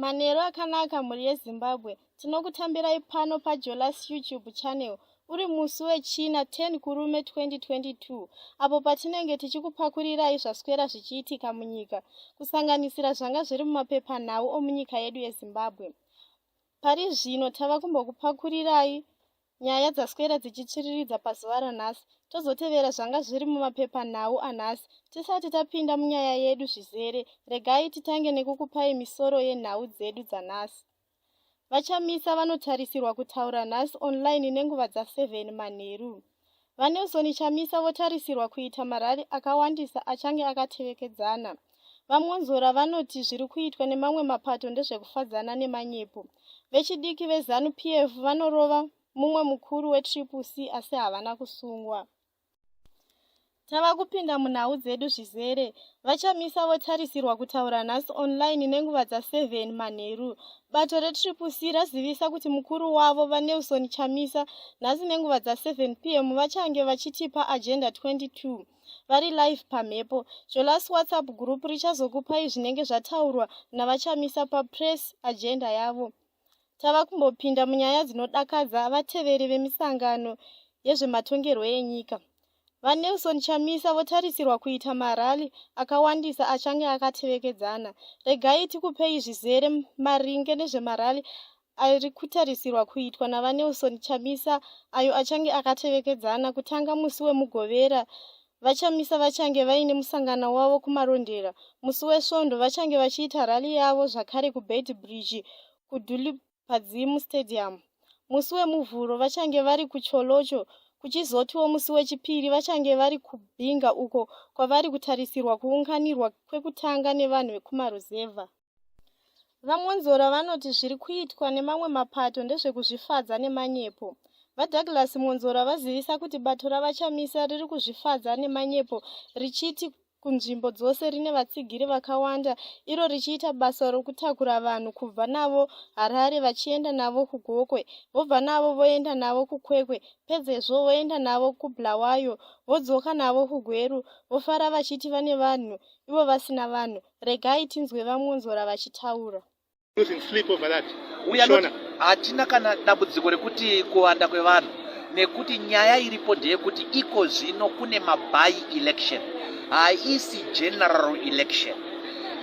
manheru akanaka mhuri yezimbabwe tinokutambirai pano pajolas youtube channel uri musi wechina 10 kurume 2022 apo patinenge tichikupakurirayi zvaswera zvichiitika munyika kusanganisira zvanga zviri mumapepanhau omunyika yedu yezimbabwe pari zvino tava kumbokupakurirayi nyaya dzaswera dzichitsviriridza pazuva ranhasi tozotevera zvanga zviri mumapepanhau anhasi tisati tapinda munyaya yedu zvizere regai titange nekukupai misoro yenhau dzedu dzanhasi vachamisa vanotarisirwa kutaura nhasi online nenguva dza7 manheru VaNelson Chamisa votarisirwa kuita marari akawandisa achange akatevekedzana. VaMwonzora vanoti zviri kuitwa nemamwe mapato ndezvekufadzana nemanyepo. Vechidiki veZanu PF vanorova mumwe mukuru weTriple C asi havana kusungwa. Tava kupinda munhau dzedu zvizere. VaChamisa votarisirwa kutaura nhasi online nenguva dza 7 manheru. Bato reTriple C razivisa kuti mukuru wavo, VaNelson Chamisa, nhasi nenguva dza 7 pm vachange vachitipa Agenda 22 vari live pamhepo. Zvelas WhatsApp group richazokupai zvinenge zvataurwa naVaChamisa paPress Agenda yavo. tava kumbopinda munyaya dzinodakadza vateveri vemisangano yezvematongerwo enyika vanelson chamisa votarisirwa kuita marali akawandisa achange akatevekedzana regai tikupei zvizere maringe nezvemarali ari kutarisirwa kuitwa navanelson chamisa ayo achange akatevekedzana kutanga musi wemugovera VaChamisa vachange vaine musangano wavo kuMarondera. Musi weSvondo vachange vachiita rally yavo zvakare kuBeitbridge kuDulip Padzimu Stadium. Musi weMuvhuro vachange vari kuCholocho kuchizotiwo musi weChipiri vachange vari kuBinga uko kwavari kutarisirwa kuunganirwa kwekutanga nevanhu vekumaruzevha. VaMwonzora vanoti zviri kuitwa nemamwe mapato ndezvekuzvifadza nemanyepo. VaDouglas Mwonzora vazivisa kuti bato raVaChamisa riri kuzvifadza nemanyepo richiti kunzvimbo dzose rine vatsigiri vakawanda iro richiita basa rokutakura vanhu kubva navo harare vachienda navo kugokwe vobva navo voenda navo kukwekwe pedzezvo voenda navo kubulawayo vodzoka navo kugweru vofara vachiti vane vanhu ivo vasina vanhu Regai tinzwe vaMwonzora vachitaura. Losing sleep over that. We are not, Shona. hatina kana dambudziko rekuti kuwanda kwevanhu nekuti nyaya iripo ndeyekuti iko zvino kune maby election haisi general election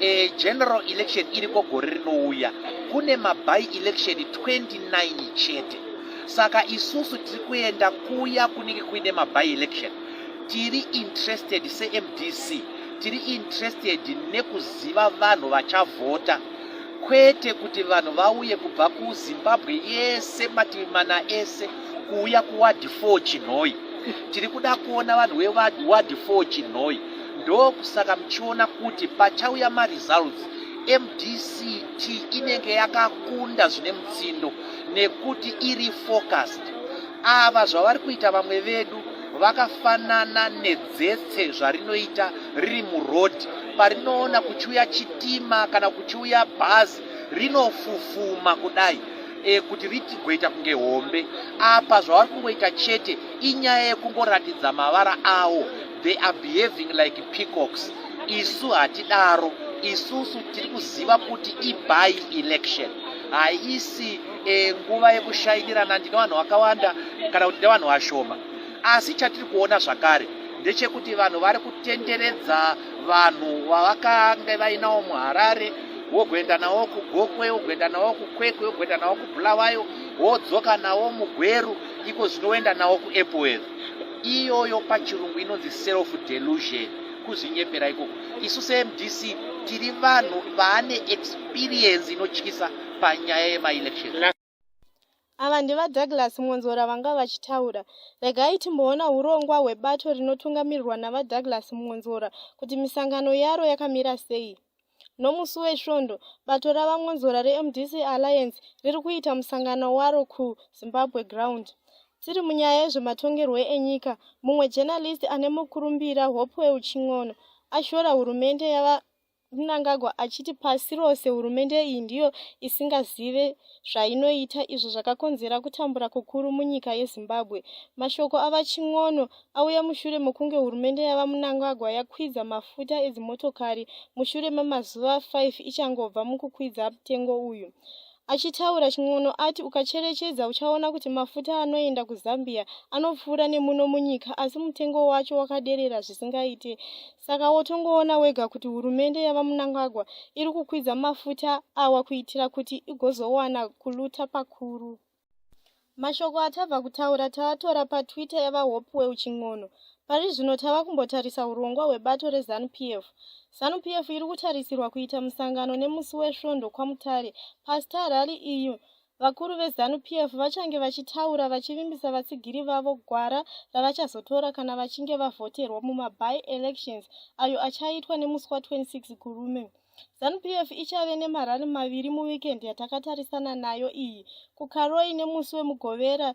e, general election iriko gore rinouya kune maby election 29 chete saka isusu tiri kuenda kuya kunenge kuine maby election tiri interested semdc tiri interested nekuziva vanhu vachavhota kwete kuti vanhu vauye kubva kuzimbabwe yese mativi mana ese kuuya kuwadhi 4 chinhoi tiri kuda kuona vanhu vewadhi 4 chinhoi ndokusaka muchiona kuti pachauya maresults mdct inenge yakakunda zvine mutsindo nekuti iri focused ava zvavari kuita vamwe vedu vakafanana ne dzese zvarinoita riri muroad parinoona kuchiuya chitima kana kuchiuya bhazi rinofufuma kudai e, kuti ritigoita kunge hombe apa zvavari kungoita chete inyaya yekungoratidza mavara awo they are behaving like peacocks isu hatidaro isusu tiri kuziva kuti iby election haisi e, nguva yekushainirana ndine vanhu vakawanda kana kuti nevanhu vashoma Asi chatiri kuona zvakare ndechekuti vanhu vari kutenderedza vanhu vavakange vainawo muharare wogoenda nawo kugokwe wogoenda nawo kukwekwe wogoenda nawo kubulawayo wodzoka nawo mugweru iko zvinoenda nawo kuepworth iyoyo pachirungu inonzi self delusion kuzvinyepera ikoko isu semdc tiri vanhu vaane experience inotyisa panyaya yemaelections ava ndevadouglas mwonzora vanga vachitaura regai timboona urongwa hwebato rinotungamirirwa navadouglas mwonzora kuti misangano yaro yakamira sei nomusi wesvondo bato ravamwonzora remdc alliance riri kuita musangano waro kuzimbabwe ground tiri munyaya yezvematongerwo enyika mumwe journalist ane mukurumbira hopewell chin'ono ashora hurumende yava Mnangagwa achiti pasi rose hurumende iyi ndiyo isingazive zvainoita izvo zvakakonzera kutambura kukuru munyika yezimbabwe mashoko avachin'ono auya mushure mokunge hurumende yavamnangagwa yakwidza mafuta edzimotokari mushure memazuva 5 ichangobva mukukwidza mutengo uyu Achitaura Chin'ono ati ukacherechedza uchaona kuti mafuta anoenda kuZambia anopfuura nemuno munyika asi mutengo wacho wakaderera zvisingaite. Saka wotongoona wega kuti hurumende yaVaMnangagwa iri kukwidza mafuta awa kuitira kuti igozowana kuluta pakuru. Mashoko atava kutaura taatora paTwitter yaVaHopewell Chin'ono. Pari zvino tava kumbotarisa hurongwa hwebato reZanu-PF. Zanu-PF iri kutarisirwa kuita musangano nemusi weSvondo kwaMutare. PaStar Rally iyi, vakuru veZanu-PF vachange vachitaura vachivimbisa vatsigiri vavo gwara ravachazotora kana vachinge vavhoterwa mumabye-elections ayo achaitwa nemusi wa 26 Gurume. ZanuPF ichave nemarally maviri muweekend yatakatarisana nayo iyi, kuKaroi nemusi weMugovera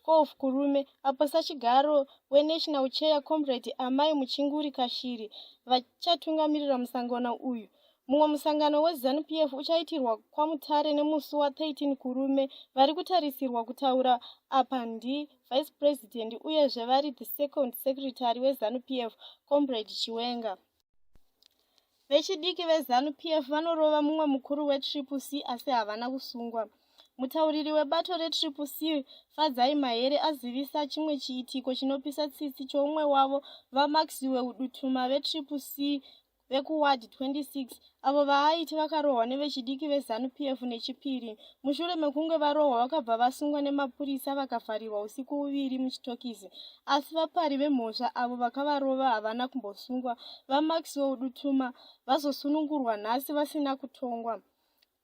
12 Kurume, apo sachigaro weNational Chair Comrade Amai Muchinguri Kashiri vachatungamirira musangano uyu. Mumwe musangano weZanuPF uchaitirwa kwaMutare nemusi wa13 Kurume. Vari kutarisirwa kutaura apa ndiVice President uyezve vari the second secretary weZanuPF, Comrade Chiwenga. Vechidiki veZanu PF vanorova mumwe mukuru weTriple C asi havana kusungwa. Mutauriri webato reTriple C, Fadzai Mahere, azivisa chimwe chiitiko chinopisa tsitsi choumwe wavo, VaMaxiwe Udutuma veTriple C vekuward 26 avo vaaiti vakarohwa nevechidiki veZanu PF neChipiri mushure mekunge varohwa vakabva vasungwa nemapurisa vakavharirwa usiku uviri muchitokisi asi vapari vemhosva avo vakavarova havana kumbosungwa vamaxwell dutuma vazosunungurwa nhasi vasina kutongwa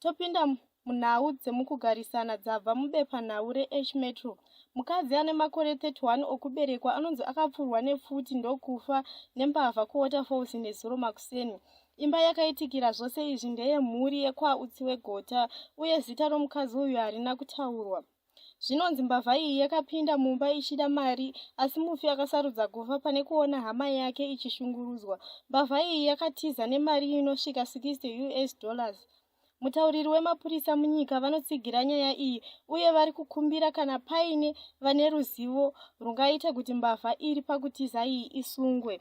topinda munhau dzemukugarisana dzabva mubepanhau reh metro mukadzi ane makore 31 okuberekwa anonzi akapfurwa nepfuti ndokufa nembavha kuwaterfalls nezuro makuseni Imba yakaitikira zvose izvi ndeye mhuri yekwautsi wegota uye zita romukadzi uyu harina kutaurwa. Zvinonzi mbavha iyi yakapinda mumba ichida mari asi mufi akasarudza kufa pane kuona hama yake ichishungurudzwa. Mbavha iyi yakatiza nemari inosvika 60 us dollars. Mutauriri wemapurisa munyika vanotsigira nyaya iyi uye vari kukumbira kana paine vane ruzivo rungaita kuti mbavha iri pakutiza iyi isungwe.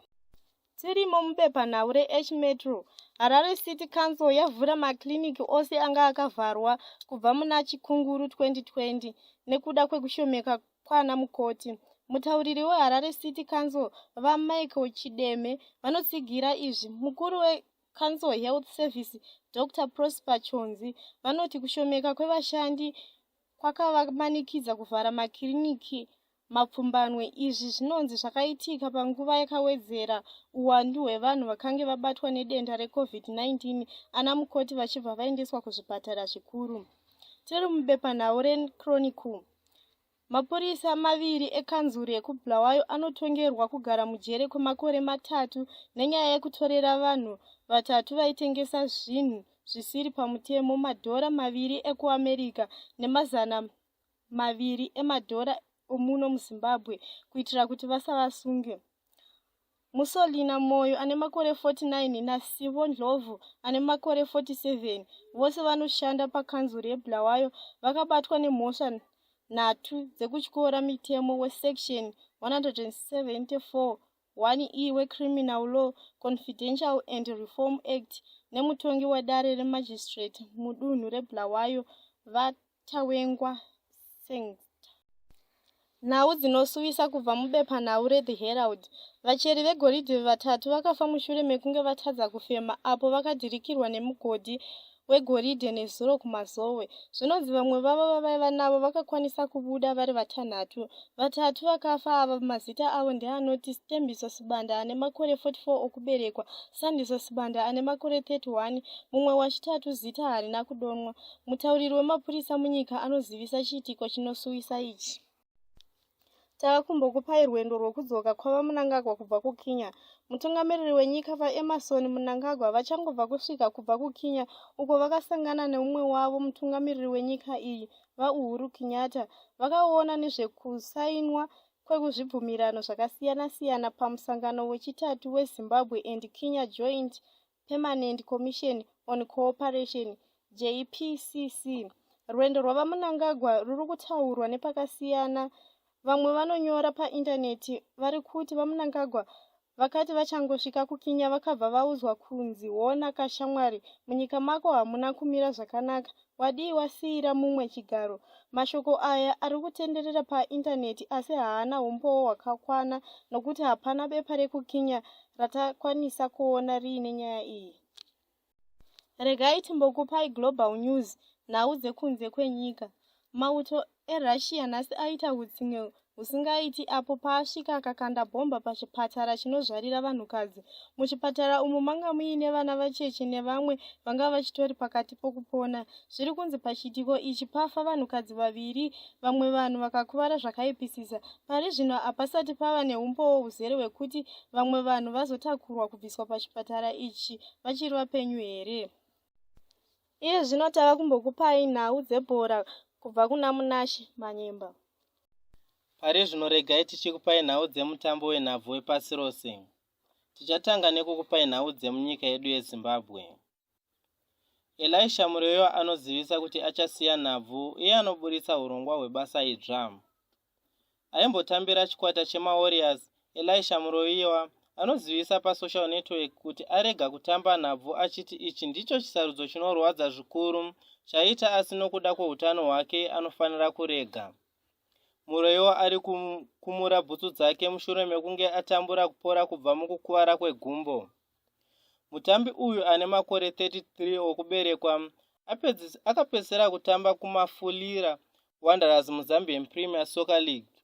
Tirimo mubepanhau reH Metro, Harare City Council yavhura makiriniki ose anga akavharwa kubva muna Chikunguru 2020 nekuda kwekushomeka kwana mukoti. Mutauriri weHarare City Council, VaMichael Chideme, vanotsigira izvi. Mukuru weCouncil Health Service, Dr Prosper Chonzi, vanoti kushomeka kwevashandi kwakavamanikidza kuvhara makiriniki mapfumbanwe izvi zvinonzi zvakaitika panguva yakawedzera uwandu hwevanhu vakange vabatwa nedenda recovid-19 ana mukoti vachibva vaendeswa kuzvipatara zvikuru tiri mubepanhau rechronicle mapurisa maviri ekanzuru yekubulawayo anotongerwa kugara mujere kwemakore matatu nenyaya yekutorera vanhu vatatu vaitengesa zvinhu zvisiri pamutemo madhora maviri ekuamerica nemazana maviri emadhora omuno muzimbabwe kuitira kuti vasavasunge musolina moyo ane makore 49 nasivo ndlovu ane makore 47 vose vanoshanda pakanzuru yebulawayo vakabatwa nemhosva nhatu dzekutyora mitemo wesection 174 1 e weCriminal Law, Confidential and Reform Act nemutongi wedare remagistrate mudunhu reBulawayo, VaTawengwa Sengsta. Nhau dzinosuwisa kubva mubepanhau reThe Herald, Vacheri vegoridhe vatatu vakafa mushure mekunge vatadza kufema apo vakadhirikirwa nemugodhi wegoridhe nezuro kumazowe zvinonzi vamwe vavo vavaiva navo vakakwanisa kubuda vari vatanhatu vatatu vakafa ava mazita avo ndeanoti stembiso sibanda ane makore 44 okuberekwa sandiso sibanda ane makore 31 mumwe wachitatu zita harina kudonwa mutauriri wemapurisa munyika anozivisa chiitiko chinosuwisa ichi tava kumbokupai rwendo rwokudzoka kwava munangagwa kubva kukinya mutungamiriri wenyika vaemarson munangagwa vachangobva kusvika kubva kukinya uko vakasangana neumwe wavo mutungamiriri wenyika iyi vauhuru kinyata vakaona nezvekusainwa kwekuzvibvumirano zvakasiyana-siyana pamusangano wechitatu wezimbabwe and kinya joint Permanent Commission on Cooperation, JPCC. Rwendo rwaVaMunangagwa ruri kutaurwa nepakasiyana. Vamwe vanonyora paindaneti vari kuti VaMunangagwa vakati vachangosvika kuKenya vakabva vaudzwa kunzi hona kashamwari, munyika mako hamuna kumira zvakanaka, Wadii wasiira mumwe chigaro? Mashoko aya ari kutenderera paindaneti asi haana umbowo hwakakwana nokuti hapana bepa rekuKenya ratakwanisa kuona riine nyaya iyi. Regai timbokupai Global News, nhau dzekunze kwenyika. Mauto erussia nhasi aita hutsinye husingaiti apo paasvika akakanda bhomba pachipatara chinozvarira vanhukadzi muchipatara umu manga muine vana vacheche nevamwe vanga vachitori pakati pokupona zviri kunzi pachiitiko ichi pafa vanhukadzi vaviri vamwe vanhu vakakuvara zvakaipisisa pari zvino hapasati pava neumbowo huzere hwekuti vamwe vanhu vazotakurwa kubviswa pachipatara ichi vachiri vapenyu here Iye zvino tava kumbokupai nhau dzebhora kubva kuna Munashe Manyemba. Pari zvino regai tichikupai nhau dzemutambo wenhabvu wepasi rose. Tichatanga nekukupai nhau dzemunyika yedu yeZimbabwe. Elisha Mureyo anozivisa kuti achasiya nhabvu uye anoburitsa hurongwa hwebasa idzva. aimbotambira chikwata chemawarriors elisha muroiwa anozivisa pasocial network kuti arega kutamba nhabvu achiti ichi ndicho chisarudzo chinorwadza zvikuru chaita asi nokuda kweutano hwake anofanira kurega muroiwa ari kumura bhutsu dzake mushure mekunge atambura kupora kubva mukukuvara kwegumbo Mutambi uyu ane makore 33 okuberekwa akapedzisira kutamba kumafulira wanderers muzambian premier soccer league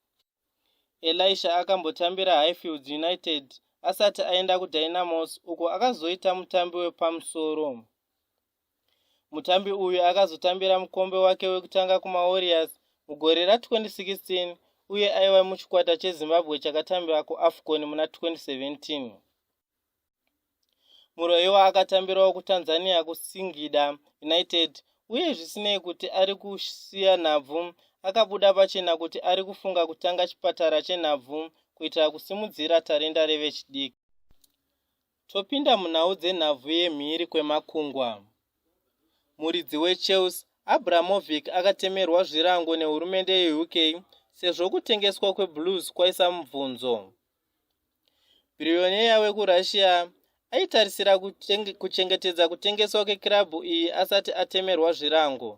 elisha akambotambira highfields united asati aenda kudynamos uko akazoita mutambi wepamusoro mutambi uyu akazotambira mukombe wake wekutanga kumawarriors mugore ra2016 uye aiva muchikwata chezimbabwe chakatambira kuafcon muna 2017 muroyiwa akatambirawo kutanzania kusingida united uye zvisinei kuti ari kusiya nhabvu akabuda pachena kuti ari kufunga kutanga chipatara chenhabvu kuitira kusimudzira tarenda revechidiki topinda munhau dzenhabvu yemhiri kwemakungwa muridzi wechelsea abramovic akatemerwa zvirango nehurumende yeuk sezvo kutengeswa kweblues kwaisa mubvunzo bhiriyoneya wekurussia aitarisira kuchengetedza kutengeswa kwekirabhu iyi asati atemerwa zvirango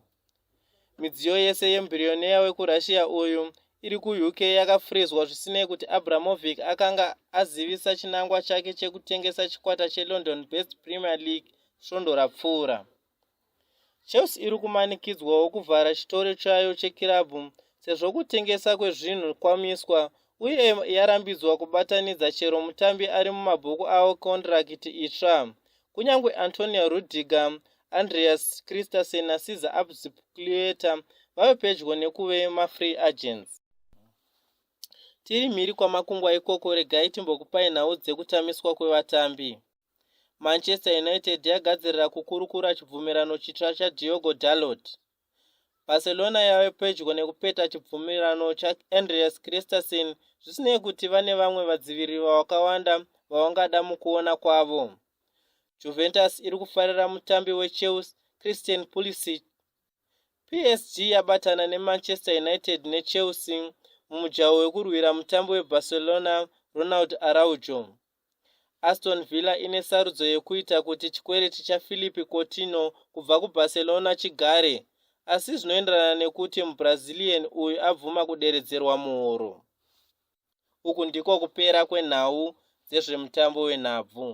midziyo yese yemubhiriyoneya wekurussia uyu iri kuuk yakafrizwa zvisinei kuti abramovic akanga azivisa chinangwa chake chekutengesa chikwata chelondon best premier league svondo rapfuura Chelsea iri kumanikidzwawo kuvhara chitoro chayo chekirabhu sezvo kutengesa kwezvinhu kwamiswa uye yarambidzwa kubatanidza chero mutambi ari mumabhuku avo kondirakiti itsva kunyange antonio rudiger andreas christensen nasiza abzipclueta vave pedyo nekuve mafree agents tiri mhiri kwamakungwa ikoko regai timbokupai nhau dzekutamiswa kwevatambi manchester united yagadzirira kukurukura chibvumirano chitsva chadiogo dalot barcelona yave pedyo nekupeta chibvumirano chaandreas christerson zvisinei kuti vane vamwe vadziviriri vavakawanda vavangada mukuona kwavo juventus iri kufarira mutambi wechels christian pulisic psg yabatana nemanchester united nechelsea mumujaho wekurwira mutambi webarcelona ronald araujo Aston Villa ine sarudzo yekuita kuti chikwereti chaPhilippe Coutinho kubva kuBarcelona chigare, asi zvinoenderana nekuti muBrazilian uyu abvuma kuderedzerwa muhoro. Uku ndiko kupera kwenhau dzezvemutambo wenhabvu.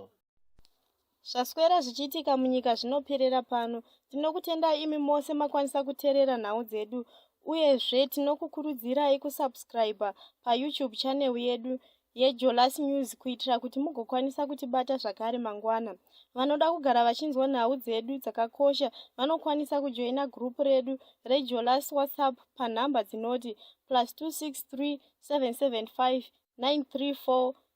Zvaswera zvichiitika munyika zvinoperera pano. Tinokutendai imi mose makwanisa kuterera nhau dzedu uyezve tinokukurudzirai kusubscribe paYoutube channel yedu yeJolas News kuitira kuti mugokwanisa kutibata zvakare mangwana. Vanoda kugara vachinzwa nhau dzedu dzakakosha vanokwanisa kujoina group redu reJolas WhatsApp panhamba dzinoti plus 263 775 934